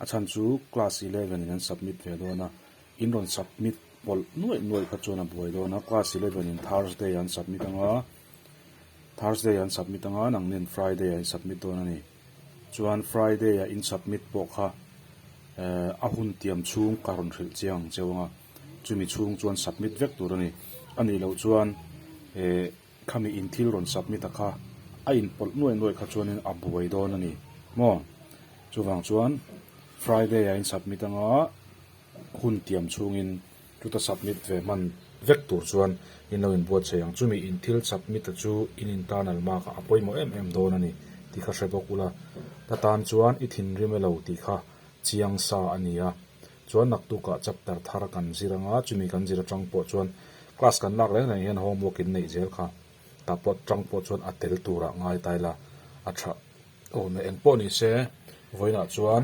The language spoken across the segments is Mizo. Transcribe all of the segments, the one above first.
A chhan chu class eleven in an submit ve dawn a, in rawn submit pawlh nuaih nuaih kha chuan a buai dawn a, class eleven in Thursday an submit anga, Thursday an submit anga nang nen Friday ah in submit dawn a ni. Chuan Friday ah in submit pawh kha eh a hun tiam chhung ka rawn hrilh chiang ang che vang a, chumi chhung chuan submit vek tur a ni. A nih loh chuan eh. Khami in thil rawn submit a kha a in pawlh nuai nuai kha chuanin a buai dawn a ni maw? Chuvang chuan Friday a in submit anga hun tiam chhungin chuta submit ve hman vek tur chuan in lo in buat chei ang. Chumi in thil submit a chu in internal mark ah a pawimawh em em dawn a ni tih kha hre bawk ula, ta tan chuan i thinrim e lo tih kha chiang sa a nia. Chuan naktukah chapter thar kan zir ang a, chumi kan zir atang pawh chuan class kan lak reng reng hian homework in neih zel kha ta pawt tang pawh chuan a tel turah ngai ta ila a tha awm e. Eng pawh nise vawiinah chuan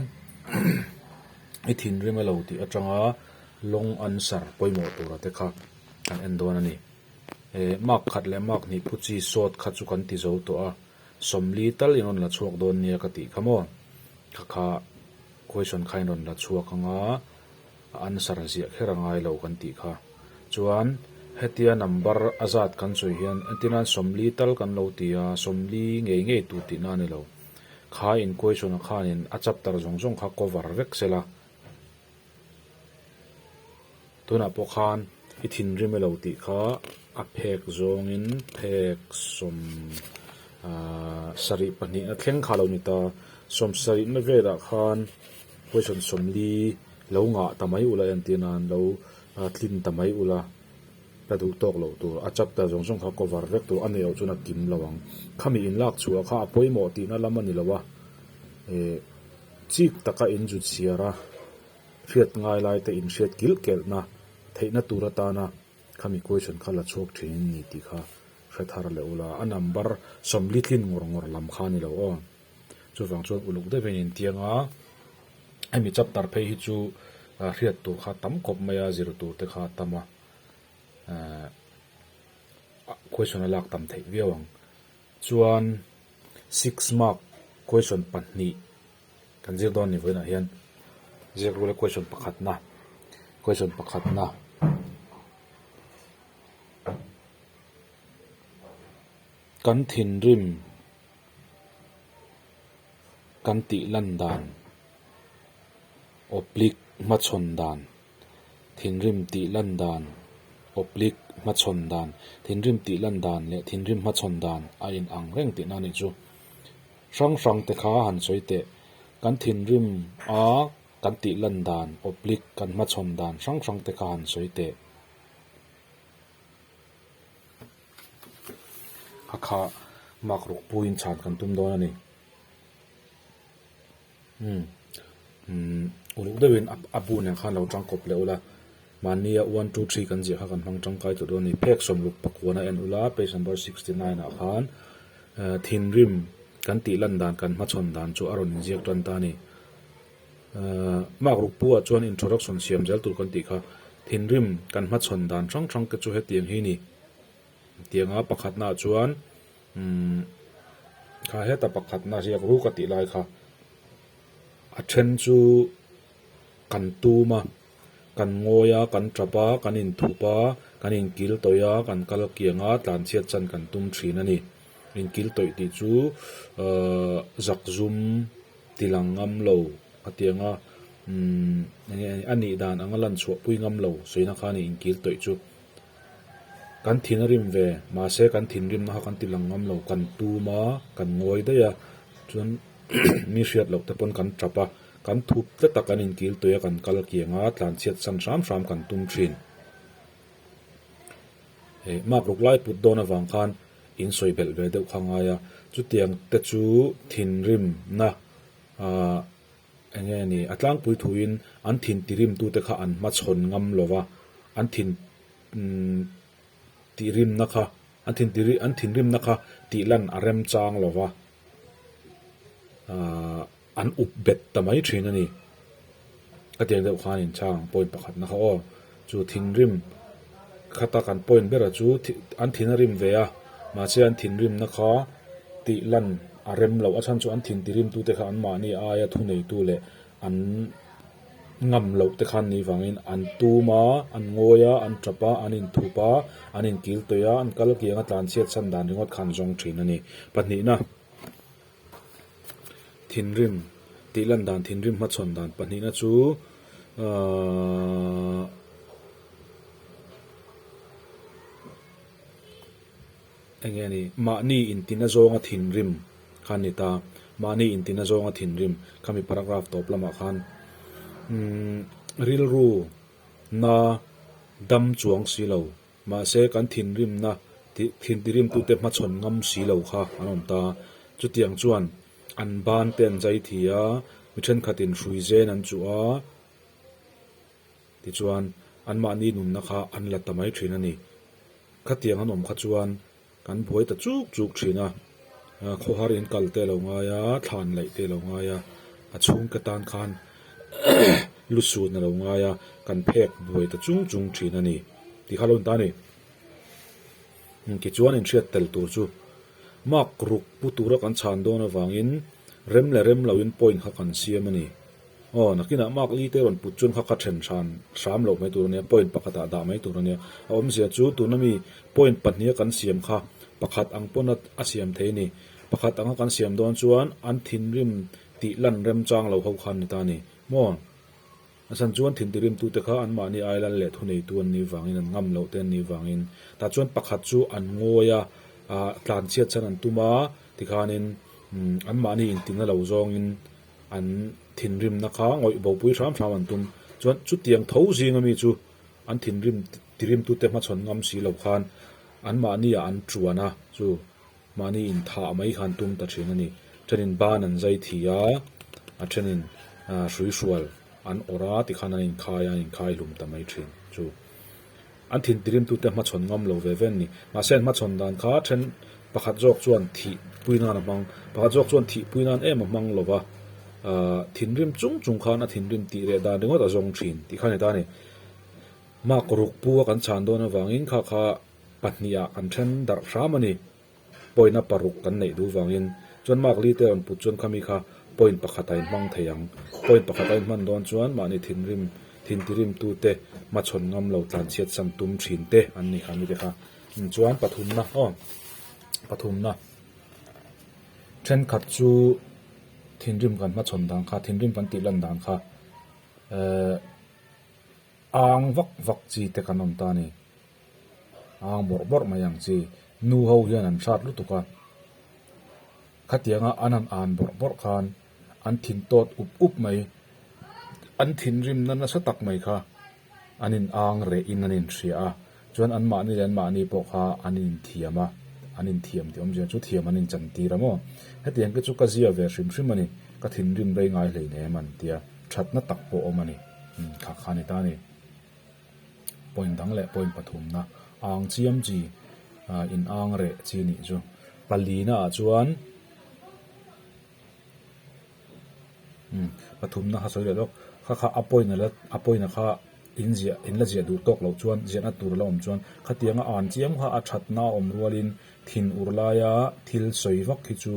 i thinrim e lo tih atanga long answer pawimawh tura te kha kan en dawn a ni. E mark khat leh mark hnih phu chi sawt kha chu kan ti zo tawh a, sawmli tal in rawn la chhuak dawn nia ka tih kha maw? Khakha. Question khain rawn la chhuak ang a, a answer ziah kher a ngai lo kan tih kha. Chuan hetia number a zat kan sawi hian engtin a sawmli tal kan lo ti a, sawmli ngei ngei tur tihna a ni lo. Khai in question a khanin a chapter zawng zawng kha cover vek sela. Tunah pawh khan i thinrim e lo tih kha a phek zawngin phek sawm sarih pahnihna thleng kha lo ni ta. Sawm sarihna velah khan huaison sawmli lo ngah ta mai ula entir nan lo tlin ta mai ula la duh tawk loh tur a chapter zawng zawng kha cover vek tur a nei awh chuan a kim lo ang. Khami in lak chhuah kha a pawimawh tihna lam a ni lo a, chik taka in zut chhiar a. Hriat ngailaite inhriat kilhkelhna theihna tur atana khami question kha la chhuak thin in ni tih kha hre thar leh ula, a number sawmli tlin ngawr ngawr lam kha ni lo aw. Chuvang chuan uluk deuhin in tiang a, hemi chapter phei hi chu hriat tur kha tam khawp mai a, zir tur te kha a tam a, question a lak tam theih viau ang. Chuan six mark question pahnih Kan zir dawn a nih vawiin ah hian ziak rula question pakhatna question pakhatna kan thinrim kan tih lan dan oblique hmachhawn dan. Thinrim tih lan dan, Oblique hmachhawn dan, thinrim tih lan dan leh thinrim hmachhawn dan a in ang reng tih na nih chu hrang hrang te kha han sawi teh. Kan thinrim a kan tih lan dan, Oblique, kan hmachhawn dan hrang hrang te kha han sawi teh. A kha mark ruk puiin chhan kan tum dawn a ni. Umm umm uluk deuh in a bu nen khan lo tang kawp leh ula mahnia one two three kan ziah kha kan hmang tangkai tawh dawn a ni phek sawmluk pakuan a en ula page number sixty nine ah khan ehh thinrim kan tih lan dan kan hmachhawn dan chu a rawn in ziak tan ta a ni ehh mark rukpu ah chuan introduction siam zel tur kan tih kha thinrim kan hmachhawn dan hrang hrang te chu hetiang hi a ni. Tiang a pakhatnaah chuan umm kha heta pakhatna a riak ruk a tih lai kha a then chu kan tum a, kan ngawi a, kan tap a, kan inthup a, kan inkil tawih a, kan kal kiang a, tlanchhiat chan kan tum thin a ni. Inkil tawih tih chu umm zak zum tilang ngam lo a tiang a, umm enge a nih dan anga lan chhuahpui ngam lo sawi na khan a ni inkil tawih chu. Kan thin a rim ve, mahse kan thinrimna kha kan ti lang ngam lo, kan tum a, kan ngawi daih a, chuan mi hriat loh te pawn kan ṭap a, kan thup tlat a, kan inkil tawih a, kan kal kiang a, tlanchhiat san hram hram kan tum ṭhin. He mak ruk lai put dawn avang khan in sawi belh ve deuh kha a ngai a, chutiang te chu thinrimna a, Eng nge a ni? A tlangpui thuin an thin tirimtute kha an hmachhawn ngam lo va, an thin tihrimna kha, an thin tih an thinrimna kha tihlan a remchang lo va, aah an up bet ta mai thin a ni. Ka tiang deuh khan a inchang, point pakhatna kha aw. Chu thinrim khata kan point bera chu an thin a rim ve a, mahse an thinrimna kha tih lan a rem loh a chhan chu an thintirimtu te kha anmahni aia thuneitu leh an ngam loh te khan ni vangin an tum a, an ngawi a, an tap a, an inthup a, an inkiltawih a, an kalkianga tlanchhiat chhan dan ringawt kha an zawng thin a ni. Pahnihna. Thinrim, tih lan dan thinrim hma chhawn dan pahnihna chu aaa eng nge ni, mahni intina zawnga thinrim kha a ni ta, mahni intina zawnga thinrim kha mi paragraph tawp lamah khan umm rilru na dam chuang si lo. Mahse, kan thinrimna tih thintirimtute hmachhawn ngam si lo kha an awm ta a, chutiang chuan an bante an zai thi a, mi thenkhatin hrui zen an chuh a, tichuan anmahni nunna kha an la ta mai thin a ni. Khatiang an awm kha chuan Kan buai ta chuk chuk thin a, khawhar in kal te lo ngai a, thla an laih te lo ngai a, a chhungte tan khan lu su na lo ngai a, kan phek buai ta chung chung thin a ni tih kha lo ni ta ni. Tichuan inhriat tel tur chu mark ruk pu tura kan chhan dawn avangin rem leh rem lo in point kha kan siam a ni. Aw, nakinah Mark Lee te rawn put chuan kha ka then hran hram loh mai tur a nia, point pakhatah dah mai tur a nia. A awmzia chu tuna mi point pahnih a kan siam kha pakhat ang pawn a a siam thei ni. Pakhat anga kan siam dawn chuan an thinrim tih lan remchang lo ho kha an ni ta ni maw? Nasan chuan thintihrimtu te kha anmahni ailal leh thuneitu an nih vangin an ngam loh te an nih vangin tah chuan pakhat chu an ngawi a, aa tlanchhiat chhan an tum a tikhanin umm anmahni intinna lo zawngin an thinrimna kha ngawih bopui hram hram an tum. Chuan chutiang tho zinga mi chu an thinrim tirimtute hmachhawn ngam si lo khan anmahnia an ṭuana chu mahni inthah mai kha an tum ta ṭhin a ni. Ṭhenin ban an zai thi a, a ṭhenin hrui hrual an awrh a tikhan an inkhai a, an inkhai hlum ta mai ṭhin chu. An thinti rimtute hmachhawn ngam lo ve ve an ni. Mahse, an hmachhawn dan kha then pakhat zawk chuan thih pui nan a hmang, pakhat zawk chuan thih pui nan em a hmang lo va, thinrim chung chung khan a thinrim tih leh dan ringawt a zawng thin tih kha a ni ta a ni. Mark Rukpua kan chhan dawn avangin kha kha pahnih ah kan then darh hram a ni. Point a paruk kan neih duh vangin chuan Mark Lee te rawn put chuan khami kha point pakhat a inhmang thei ang. Point pakhat a inhman dawn chuan mahni thinrim, thintirimtu te, hmachhawn ngam lo tlanchhiat sam tum thin te an ni kha mite kha. Chuan pathumna aw, pathumna, thenkhat chu thinrim kan hmachhawn dan kha, thinrim kan tih lan dan kha, eh, ang vak vak chi te kan awm ta a ni. Âng bawrh bawrh mai ang chi, nu ho hian an hrat lutuk a. Khatianga an han ân bawrh bawrh khan an thin tawt up up mai, an thinrimna nasa tak mai kha an inâng reh in an inhria a. Chuan an mahni leh an mahni pawh kha an inthiam a, an inthiam tih awmzia chu thiam an inchan tir a maw. Heti ang khi chu ka zia ve hrim hrim a ni, ka thinrim rei ngai hleinem an tia, ṭhatna tak pawh a awm a ni, khakha a ni ta a ni. Point dang leh point pathumna âng chiam chi inâng reh chi a nih chu. Palinaah chuan pathumna ha sawi leh lawk, kha kha a point ala a point a kha inziah inla ziah duh tawk loh chuan ziahna tur ala awm chuan khatianga ân chiam kha a ṭhatna a awm rualin thin ur laia thil sawi vak hi chu.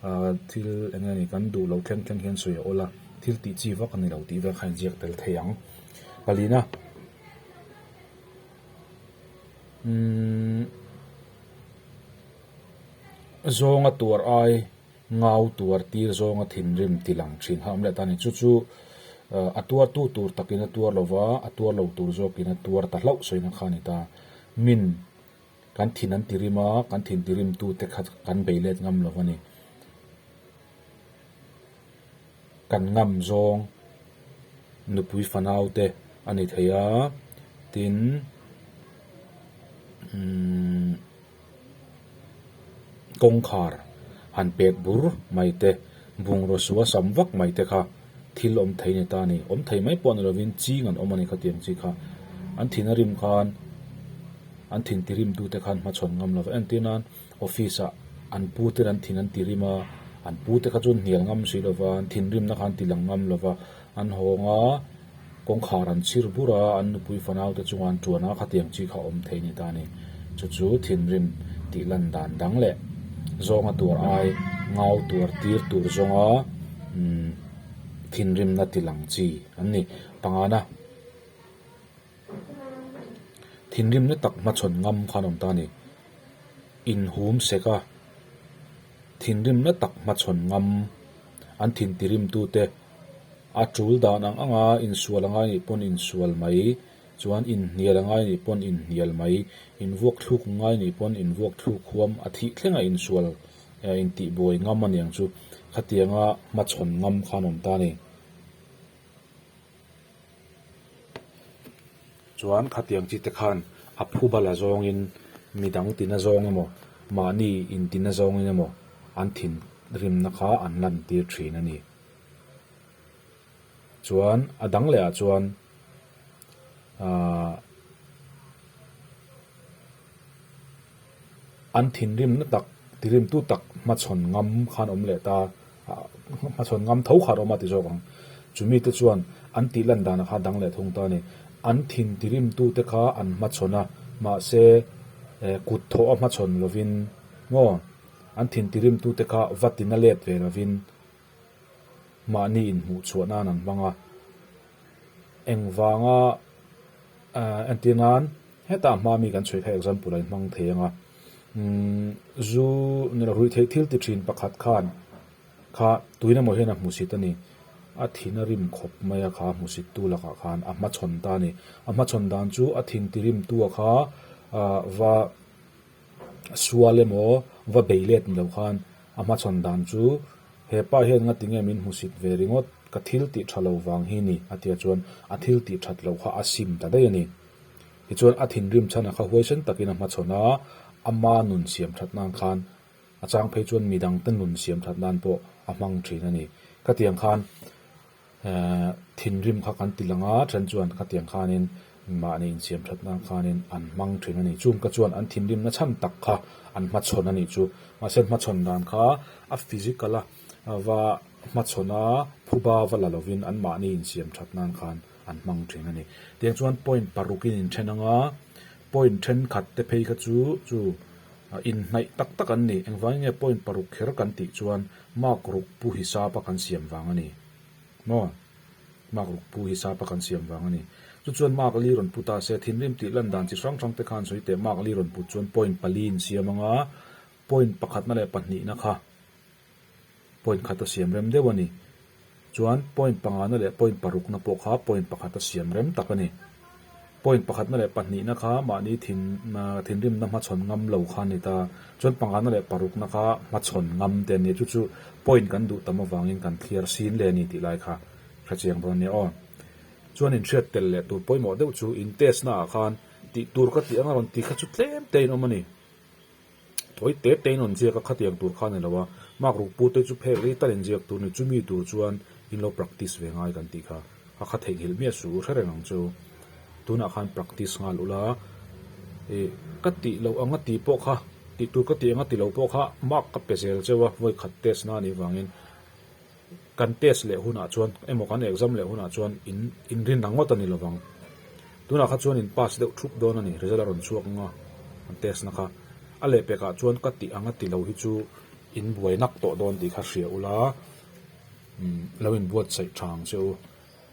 A thil eng nge ni kan duh lo thleng thleng hian sawi a awl a, thil tih chi vak a ni lo tih vel kha a inziak tel thei ang. Palina umm zawnga tuar ai ngau tuar tir zawnga thinrim tilang thin kha awm leh ta ni. Chu chu a tuartu tur takin a tuar lo va, a tuar lo tur zawkin a tuar ta hlauh sawina kha a ni ta. Min. Kan thin an ti rim a, kan thin ti rim tu te kha kan bei let ngam lo a ni. Kan ngam zawng nupui fanau te a ni thei a, tin umm kawngkhar han pek bur mai te, bungraw suasam vak mai te kha, thil awm thei ni ta ni, awm thei mai pawh a ni lovin ching an awm a ni kha tiang chi kha an thin a rim khan an thin ti rim tute khan hmachhawn ngam lo va en tir nan office ah an pu ten an thin an ti rim a an pu te kha chuan hnial ngam si lova an thin rimna khan ti lang ngam lova an hawng a. Kawngkhar an chhir bur a, an nupui fanaute chunga an ṭuan a, khatiang chi kha awm thei a ni ta ni. Chu chu thinrim tih lan dan dang leh zawnga tur ai ngau tur tir tur zawnga thinrimna ti lang chi an ni. Pangana thinrim na tak hmachhawn ngam kha an awm ta a ni. Inhum seka thinrim na tak hmachhawn ngam. an thinti rimtute a tul dan ang anga insual angai nih pawn insual mai, chuan inhnial angai nih pawn inhnial mai, invuak thluk ngai nih pawn invuak thluk huam a thih thleng a insual eh intihbuai ngam aniang chu khatianga hmachhawn ngam kha an awm ta a ni. Chuan khatiang chi te khan a phu bala zawngin mi dang tina zawng emaw, mahni in tina zawngin emaw an thin rimna kha an lan tir thin a ni. Chuan a dang leh ah chuan aah. An thinrim na tak, tirimtu tak hmachhawn ngam khan awm leh ta, hmachhawn ngam tho khan a awm a ti zawk ang. Chu mite chuan an tih lan dan a kha dang leh thung ta a ni. An thin tirimtu te kha an hmachhawn a, mahse kut thawh a hmachhawn lovin maw? An thin tirimtu te kha va tina let ve lovin mahni inhmuhchhuah nan an hmang a, engvanga ehh entir nan hetah hma mi kan chhawi kha example a in hmang thei ang a, umm zu ni loh ruihtheih thil ti thin pakhat khan kha tuin emaw hian a hmusit a ni, a thin a rim khawp mai a kha a hmusit tu lak ah khan a hmachhawn ta a ni, a hmachhawn dan chu a thin ti rim tu a kha va A sual emaw va beih let ni lo khan a hmachhawn dan chu, Hepa hian nga tinge min hmusit ve ringawt, ka thil tih tha lo vang hi ni, a tia chuan a thil tih that loh kha a sim ta daih a ni. Tichuan a thinrim chhan a kha huaisen takin a hmachhawn a, ama nun siam that nan khan a chang phei chuan midangte nun siam that nan pawh a hmang thin a ni. Khatiang khan Thinrim kha kan ti lang a, then chuan khatiang khanin mahni insiam thatna khanin an hmang thin a nih chu. Ka chuan an thinrimna chhan tak kha an hmachhawn a nih chu. Mahse hmachhawn dan kha a physical a va hmachhawn a, phuba va la lovin an mahni insiam that nan khan an hmang thin a ni. Tiang chuan point parukin in then anga, point thenkhat te phei kha chu chu inhnaih tak tak an ni. Engvangin nge point paruk kher kan tih chuan Mark ruk pu hi sapa kan siam vang a ni maw? Mark ruk pu hi sapa kan siam vang a ni. Chu chuan mark li rawn pu ta se, thinrim tih lan dan chi hrang hrang te khan sawi teh mark li rawn put chuan point pali in siam ang a, point pakhatna leh pahnihna kha point khata siam rem deuh a ni. Chuan point pangahna leh point parukna pawh kha point pakhata siam rem tak a ni. Point pakhatna leh pahnihna kha mahni thin thinrimna hmachhawn ngam lo kha a ni ta, chuan pangahna leh parukna kha hmachhawn ngam te an ni a, chu chu point kan duh tam avangin kan thliar sin le a ni tih lai kha hrechiang dawn a nia aw. Chuan inhriat tel leh tur pawimawh deuh chu in test naah khan tih tur ka tih anga rawn ti kha chu tlem teiin awm a ni. Thawi te tein rawn ziak a khatiang tur kha ni lo a, Mark Rukpu te chu phek rei ta in ziak tur ni chumi tur chuan in lo practice ve ngai kan tih kha a kha theihnghilh miah suh u hrereng ang chu. Tunah khan practice nghal ula i ka tih loh ang a tih pawh kha tih tur ka tih ang a ti loh pawh kha Mark ka pe zel cheu a vawikhat test na nih vangin. Kan test leh hunah chuan emaw kan exam leh hunah chuan in inrin ang ngawt a ni lovang. Tunah kha chuan in pass deuh thup dawn a ni, result a rawn chhuak ang a kan test na kha. A leh pekah chuan ka tih ang a tilo hi chu in buai nak tawh dawn tih kha hria ula umm lo in buatsaih tha ang che u.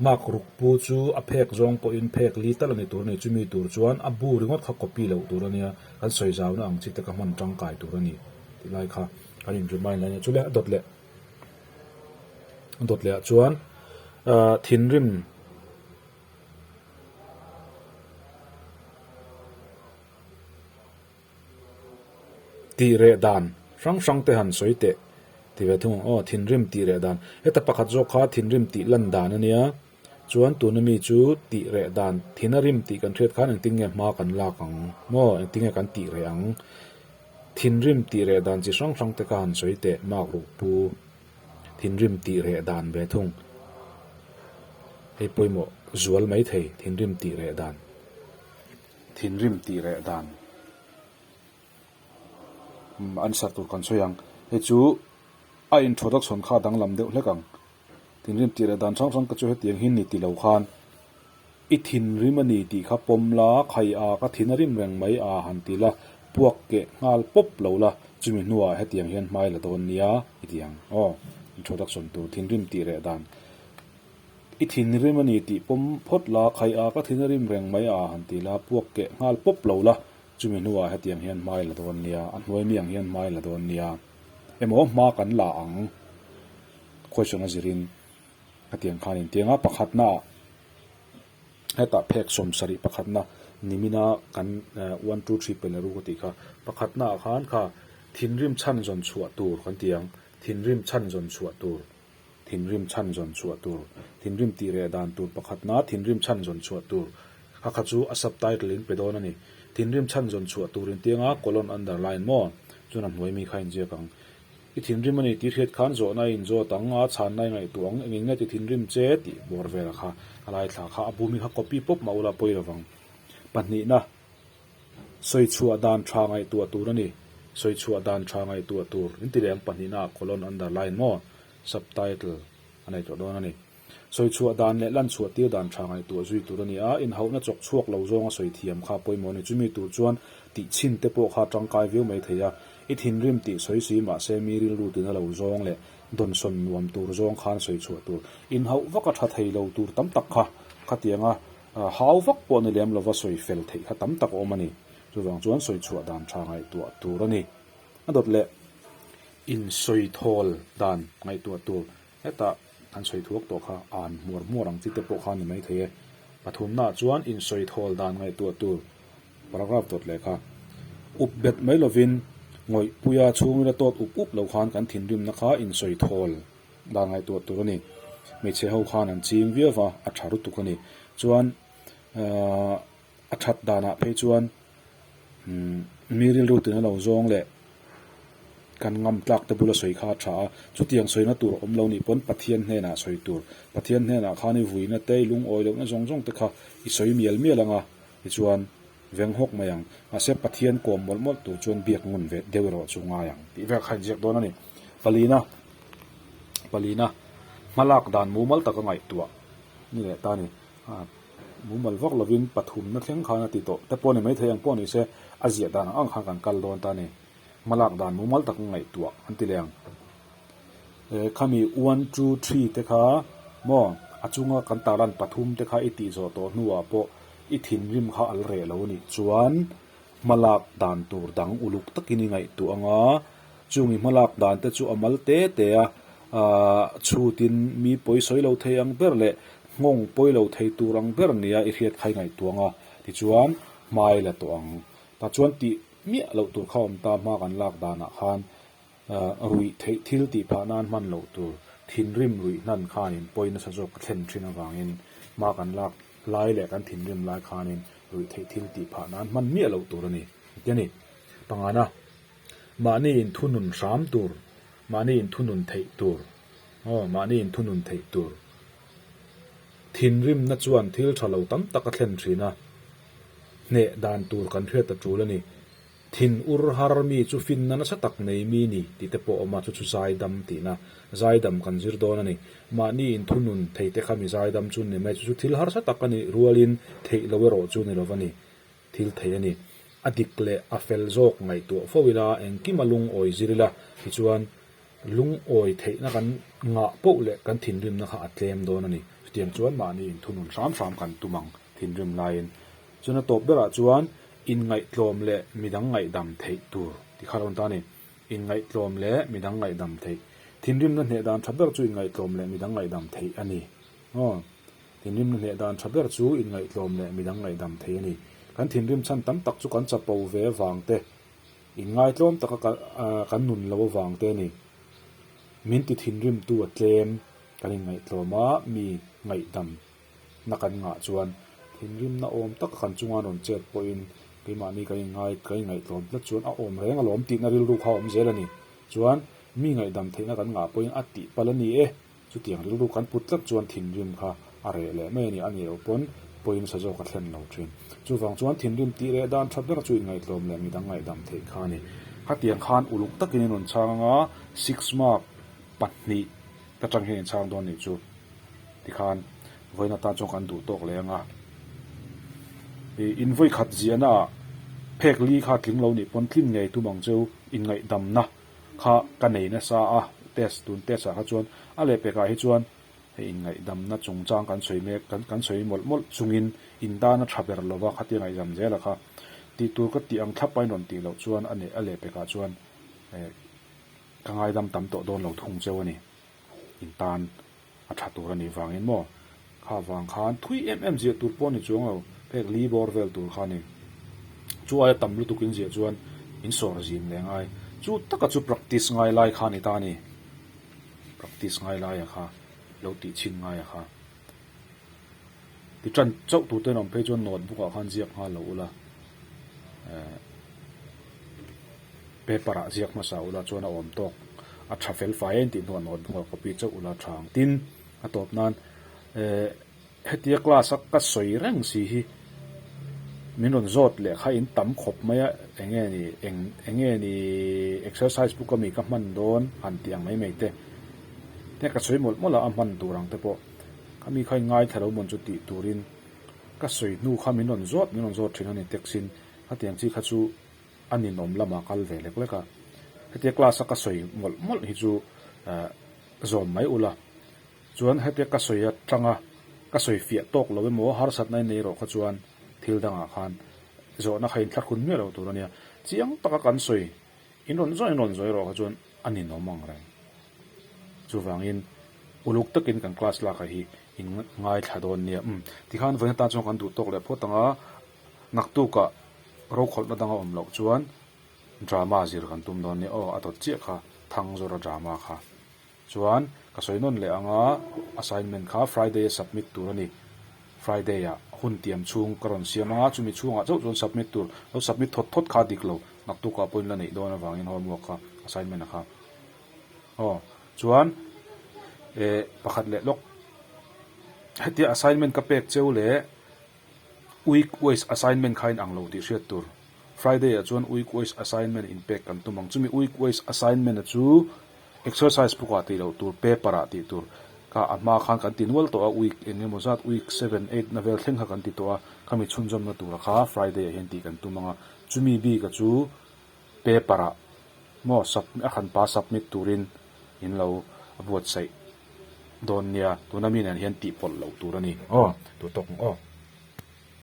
Mark ruk pu chu a phek zawng pawhin phek li tal a ni tur a ni, chumi tur chuan a bu ringawt kha copy loh tur a nia, kan sawi zau na ang chi te ka hman tangkai tur a ni tih lai kha kan in remind la a nia. Chule a dawt leh. Dawt leh ah chuan ahh thinrim tih reh dan hrang hrang te han sawi teh ti ve thung ang aw thinrim tih reh dan heta pakhat zawk kha thinrim tih lan dan a nia. Chuan tuna mi chu tih reh dan thin a rim tih kan hriat khan engtin nge hma kan lak ang maw, engtin nge kan tih reh ang? Thinrim tih reh dan chi hrang hrang te khan sawi teh mak ruk pu, thinrim tih reh dan ve thung. Hei pawimawh zual mai thei thinrim tih reh dan. Thinrim tih reh dan answer tur kan sawi ang, hei chu a intro duction kha a danglam deuh hlek ang. Thinrim tih leh dan hrang hrang ka chu hetiang hi ni ti lo khan i thinrim a ni tih kha pawm la, khai a ka thin a rim reng mai a han ti la, puak keh nghal pawp lo la, chumi hnuah hetiang hian hmai la dawn nia i ti ang aw. Introduction to Thinrim tih leh dan I thinrim a ni tih pawm phawt la, khai a ka thin a rim reng mai a han ti la, puak keh nghal pawp lo la, chumi hnuah hetiang hian hmai la dawn nia, a hnuai mi ang hian hmai la dawn nia emaw hma kan la ang. question a zir in ka tiang khan in tiang a pakhat na ah hetah phek sawm sarih pakhat na nimin a kan one two three pen ru ka tih kha pakhat na ah khan kha thinrim chhan zawn chhuah tur kan ti ang thinrim chhan zawn chhuah tur thinrim chhan zawn chhuah tur thinrim tih reh dan tur pakhat na thinrim chhan zawn chhuah tur kha kha chu a subtitle in pe dawn a ni thinrim chhan zawn chhuah tur in tiang a colon underline maw chuan a hnuai mi kha a in ziak ang. I thinrim a ni tih hriat khan zawhna a inzawt ang a, chhanna i ngaihtuah ang, engin nge tithinrim che? tih bawr vela kha a laithla kha a bum i kha copy pawp mah ula pawi lovang. Pahnihna, sawi chhuah dan tha ngaihtuah tur a ni. Sawi chhuah dan tha ngaihtuah tur, in ti leh ang pahnihna ah colon underline maw? Subtitle a nei tawh dawn a ni. Sawi chhuah dan leh lan chhuah tir dan tha ngaihtuah zui tur a ni a, inhohna chawk chhuak lo zawnga sawi thiam kha pawimawh a ni. Chumi tur chuan tih chhin te pawh kha tangkai viau mai thei a, i thinrim tih sawi si mahse mi rilru tina lo zawng leh dawnsawn nuam tur zawng khan sawi chhuah tur inhoh vaka tha thei lo tur tam tak kha khatiang a hau vak pawh ni lem lova sawi fel theih kha tam tak a awm a ni. Chuvang chuan sawi chhuah dan tha ngaihtuah tur a ni a dawt leh insawi thawl dan ngaihtuah tur. Heta an sawi thuak tawh kha an hmuar hmuar ang chi te pawh kha ni mai thei e. Pathumnaah chuan insawi thawl dan ngaihtuah tur paragraph dawt leh kha up bet mai lovin ngawihpuia chhungrila tawt up up lo khan kan thinrimna kha insawi thawl dan ngaihtuah tur a ni. Hmeichhe ho khan an ching viau va, a tha rutuk a ni. Chuan, Aaa. a that danah phei chuan mi rilrutin a lo zawng leh kan ngam tlak te bula sawi kha a tha a, chutiang sawina tur awm lo nih pawn Pathian hnenah sawi tur, Pathian hnenah khan i vuina te i lungawi lohna zawng zawng te kha i sawi mial mial ang a, tichuan veng hawk mai ang. Mahse Pathian kawm mawlh mawlh tur chuan biak ngun ve deuh erawh chu ngai ang tih vek kha a inziak dawn a ni. Palina, palina hmalak dan mumal tak a ngaihtuah ni leh ta a ni. Mumal vak lovin pathumna thleng khan a ti tawh te pawh a ni maithei ang pawh a ni se, a ziah dan ang ang khan kan kal dawn ta a ni. Hmalak dan mumal tak ngaihtuah an ti leh ang. E, khami one two three te kha maw, a chunga kan tarlan pathum te kha i tih zawh tawh hnuah pawh i thinrim kha al reh lo nih chuan Hmalak dan tur dang uluk takin i ngaihtuah ang a, chungin hmalak dan te chu a mal te te a, aah chhutin mi pawi sawi lo thei ang ber leh nghawng pawi lo thei tur ang ber nia i hriat kha i ngaihtuah ang a, tichuan hmai la tawh ang. Tah chuan tih miah loh tur kha awm ta, hma kan lak danah khan. Ruih theih thil tihphah nan hman loh tur thinrim ruih hnan khanin pawi nasa zawk ka thlen thin avangin hma kan lak lai leh kan thinrim lai khanin ruih theih thil tihphah nan hman miah loh tur a ni. Tia ni. Pangana, mahni in thunun hram tur, mahni in thunun theih tur, aw, mahni in thunun theih tur thinrimna chuan thil tha lo tam tak a thlen thin a, hneh dan tur kan hriat ta tul a ni. Thin ur har mi chu finna nasa tak nei mi ni tih te pawh a awm a, chu chu zaidam tihna zaidam kan zir dawn a ni. Mahni in thunun thei te kha mi zaidam chu an ni mai, chu chu thil harsa tak a nih rual in theih lo erawh chu ni lo va ni, thil thei a ni. A dik leh a fel zawk ngaihtuah fo ila engkim a lungawi zir ila tichuan Lungawi theihna kan ngah poh leh kan thinrimna kha a tlem dawn a ni. Chutiang chuan mahni in thunun hram hram kan tum ang thinrim laiin. Chuan a tawp berah chuan inngaihtlawm leh midang ngaihdam theih tur ti kha a rawn tar a ni. Inngaihtlawm leh midang ngaihdam theih. Thinrimna hneh dan tha ber chu inngaihtlawm leh midang ngaihdam theih a ni aw. Thinrimna hneh dan tha ber chu inngaihtlawm leh midang ngaihdam theih a ni. Kan thinrim chhan tam tak chu kan chapo ve vang te In ngaitlawm taka ka kan nun lo avang te ni min ti thinrim tu a tlem kan in ngaihtlawm a mi ngaihdam na kan ngah chuan thinrim na awm taka kan chunga rawn chet pawh in keimahni kan in ngai kan in ngaihtlawm na chuan a awm reng alawm tihna rilru kha awm zel a ni chuan mi ngaihdam theihna kan ngah pawh in a tih pal a ni e. Chutiang rilru kan put tlat chuan thinrim kha a reh leh mai a ni, a ni loh pawn pawiin sa zawk a thlen lo thin. Chuvang chuan thinrim tih reh dan tha bera chu inngaihtlawm leh midang ngaihdam theih kha a ni. Khatiang khan uluk takin in rawn chhang anga six mark pahnih ka chang hian in chhang dawn anih chu tikhan vawiin atan chuan kan duh tawk leh ang a. Invawi khat ziahna ah phek li kha tling lo nih pawn tlin ngei tum ang chu inngaih damna. kha ka nei nasa a, test tun test ah kha chuan a leh pek ah hi chuan hei in ngaihdam na chung chang kan sawi mek kan kan sawi mawlh mawlh chung in in dan a tha ber lo va khatia ngaihdam zel a kha tih tur ka tih ang thlap a in rawn tih loh chuan a nei a leh pek ah chuan eh ka ngaidam tam tawh dawn lo thung cheu a ni in tan A tha tur a nih vangin maw? Kha vang khan thui em em ziah tur pawh a ni chuang lo. Phek li bawr vel tur kha a ni. Chu aia tam lutuk in ziah chuan in sawr zim leh ngai. Chu taka chu practice ngai lai kha a ni ta a ni. Practice ngai lai a kha, lo tih chhin ngai a kha. Titan chauh tur ten awm phei chuan notebook ah khan ziak nghal lo ula, eh, paper ah ziak hmasa ula chuan a awm tawk. A tha fel fai em tih hnuah notebook ah copy chauh ula tha ang. Tin, a tawp nan, eh, hetia class a ka sawi reng si hi min rawn zawt lehkha in tam khawp mai a, eng nge ni, eng, eng nge ni exercise book ami ka hman dawn han tih ang mai mai te. Te ka sawi mawlh mawlh a a hman tur ang te pawh. Ka mi kha i ngai thla lo mawn chu tih turin ka sawi hnu kha min rawn zawt min rawn zawt thin a ni text in hetiang chi kha chu a ninawm lamah kal ve lek lek a. Hetia class a ka sawi mawlh mawlh hi chu zawm mai ula chuan hetia ka sawi atanga ka sawi fiah tawk lo emaw harsatna i nei rawh kha chuan thil dangah khan zawhna kha in thlakhun miah lo tur a nia. Chiang taka kan sawi in rawn zawt in rawn zawt erawh kha chuan. a ni nawm ang reng. Chuvangin uluk takin kan class lakah hi in ngaithla dawn nia. Umm, tikhan vawiin atan chuan kan duh tawk leh phawt ang a, ngaktukah rokhawlhna dang a awm loh chuan drama zir kan tum dawn nia. Aw, a tawt chiah kha thang zawrh a drama kha. Chuan ka sawi nawn leh ang a, assignment kha Friday a submit tur a ni. Friday-ah hun tiam chhung ka rawn siam a, chumi chhungah chauh chuan submit tur, lo submit thawt thawt kha dik lo. Naktuka pawhin la neih dawn avangin homework kha, assignment-a kha. Aw, chuan eh pakhat leh lawk hetia assignment ka pek cheu leh week wise assignment khain ang lo tih hriat tur. Friday-ah chuan week wise assignment in pek kan tum ang. Chumi week wise assignment-a chu exercise book-ah tih loh tur, paper-ah tih tur kha a hma khan kan ti nual tawh a, week eng nge maw zat, week seven, eight-na vel thleng kha kan ti tawh a. Khami chhunzawmna tura kha Friday-ah hian tih kan tum ang a. Chumi bika chu paper ah maw submit a khan pa submit turin in lo buatsaih dawn nia tuna mi nen hian tih pawlh loh tur a ni aw tut awk aw.